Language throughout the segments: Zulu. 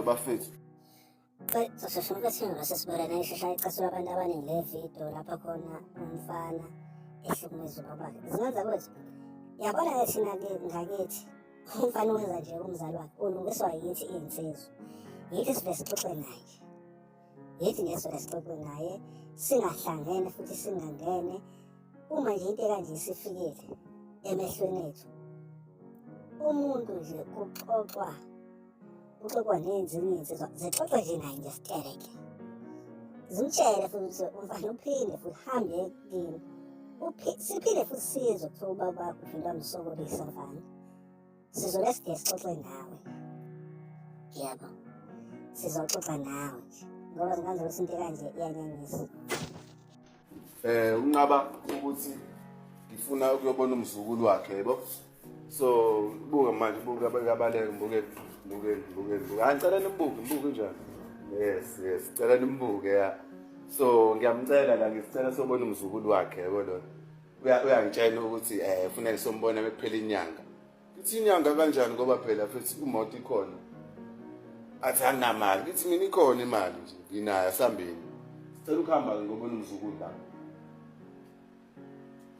bafethu soshoshuluka singaba sesibulele ishesha icasuka abantu abaningi le video lapho khona umfana ehlukumeza ubabakhe zingenza ukuthi yabona-ke thina-ke ngakithi Umfana uweza nje kumzali wakhe ulungiswa yithi iy'nsizwa. Yithi sivele sixoxe naye. Yithi nje sivele sixoxe naye singahlangene futhi singangene. Uma nje into ekanje isifikile emehlweni ethu umuntu nje kuxoxwa uxoxwa nenzi uninzi zixoxe nje naye nje sitereke zimtshele futhi ukuthi umfana uphinde futhi hambe kini siphinde futhi sizwe kuthiwa ubaba wakho uphinde wamsokolisa mfana sizole side sixoxe nawe yebo sizoxoxa nawe nje ngoba zinganze ukuthi into kanje iyanyanyisa eh unqaba ukuthi ngifuna ukuyobona umzukulu wakhe yebo so buka manje buka abaleke mbuke mbuke mbuke mbuke angicela nimbuke mbuke njani yes yes cela nimbuke ya so ngiyamcela la ngisicela sobona umzukulu wakhe yebo lona uyangitshela ukuthi eh ufuna ngisombona bekuphela inyanga Ithi inyanga kanjani ngoba phela futhi imoto ikhona. Athi anginamali. Ithi mina ikhona imali nje. Nginayo asambeni. Sicela ukuhamba ke ngoba unomzukulu la.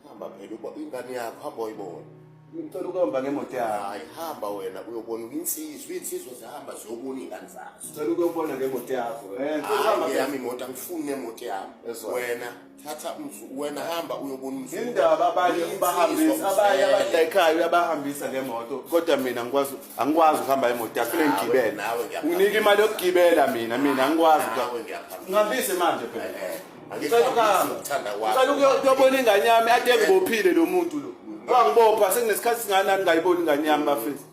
Hamba phela uba ingane yakho hamba uyibona. Ngicela ukuhamba ngemoto yakho. Hayi hamba wena uyobona insizwa, insizwa zihamba ziyobona ingane zazo. Sicela ukuyobona ngemoto yakho. Eh, ngicela Hayi ukuhamba ngeyami imoto angifuni nemoto yami. Ezwa. Wena thatha umfu wena hamba uyobona umfu indaba abanye ubahambisa abanye abadayikhayo uyabahambisa ngemoto kodwa mina ngikwazi angikwazi ukuhamba imoto yakho ngigibele nawe unike imali yokugibela mina mina angikwazi nawe ngiyaphambisa ngihambise manje phela eh, eh. angicela ukuhamba ngithanda kwakho ngicela ukuyobona ingane yami ade ngibophile lo muntu lo wangibopha sekunesikhathi singanani ngayibona ingane yami bafethu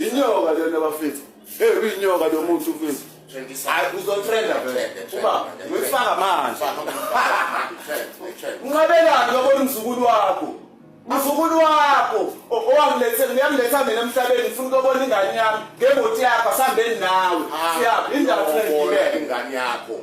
Inyoka lena bafethu. Hey uyinyoka lo muntu mfethu. Hayi uzotrenda vele. Uba ngifaka manje. Unqabelani lokho umzukulu wakho? Mzukulu wakho owangilethe ngiyangiletha mina emhlabeni ngifuna ukubona ingane yami ngemoti yakho asambeni nawe. Siyaphi indaba ingane yakho.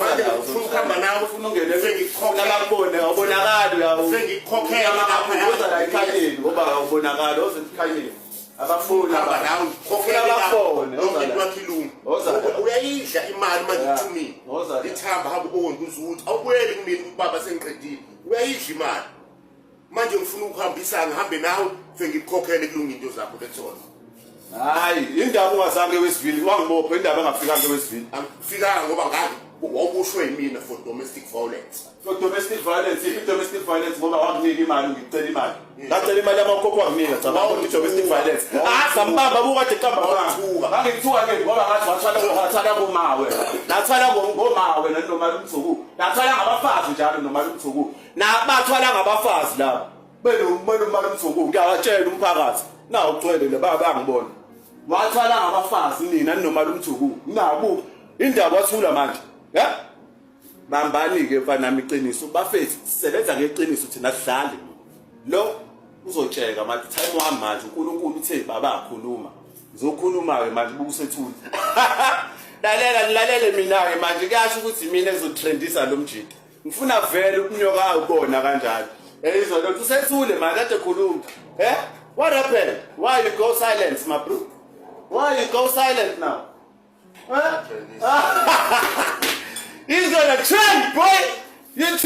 manje ufuna ukuhamba nawe ufuna ungene sengikukhokelabone awubonakali sengikukhokhela makaphumuza la ekhanyeni ngoba awubonakali oze ekhanyeni abafuni uyayidla imali manje ithumile ithamba hamba ubonke uzuthi awubuyeli kumina ubaba sengiqedile uyayidla imali manje ngifuna ukuhambisa ngihambe nawe sengikukhokhele kulunga into zakho bethona hayi indaba ungazange wesivili wangibopha indaba engafikanga wesivili angifikanga ngoba ngazi wawubushwe yimina for domestic violence for domestic violence if domestic violence ngoba wanginika imali ngicela imali ngacela imali yamakhokho wanginika cabanga ukuthi domestic violence asambamba ah, bukade qamba ngithuka ngangithuka ke ngoba ngathi wathwala wathwala ngomawe nathwala ngomawe nanomalu mthuku nathwala ngabafazi njalo nomalu mthuku nabathwala ngabafazi laba benomana umana mzuku ngiyawatshela umphakathi nawu ugcwele le baba angibona wathwala ngabafazi nina ninomala umthuku nabu indaba wathula manje ya bambani-ke mfanami iqiniso bafethu sisebenza ngeqiniso thina sidlali lo uzotsheka manje time wami manje unkulunkulu uthe baba akhuluma ngizokhuluma-ke manje bukusethula lalela nilalele mina-ke manje kuyasho ukuthi mina ezotrendisa lo mjita ngifuna vele ukunyokayo kubona kanjalo eyizwa lento usethule manje kade khuluma eh what happened why you go silent my bro why you go silent now eh? izona trend boy you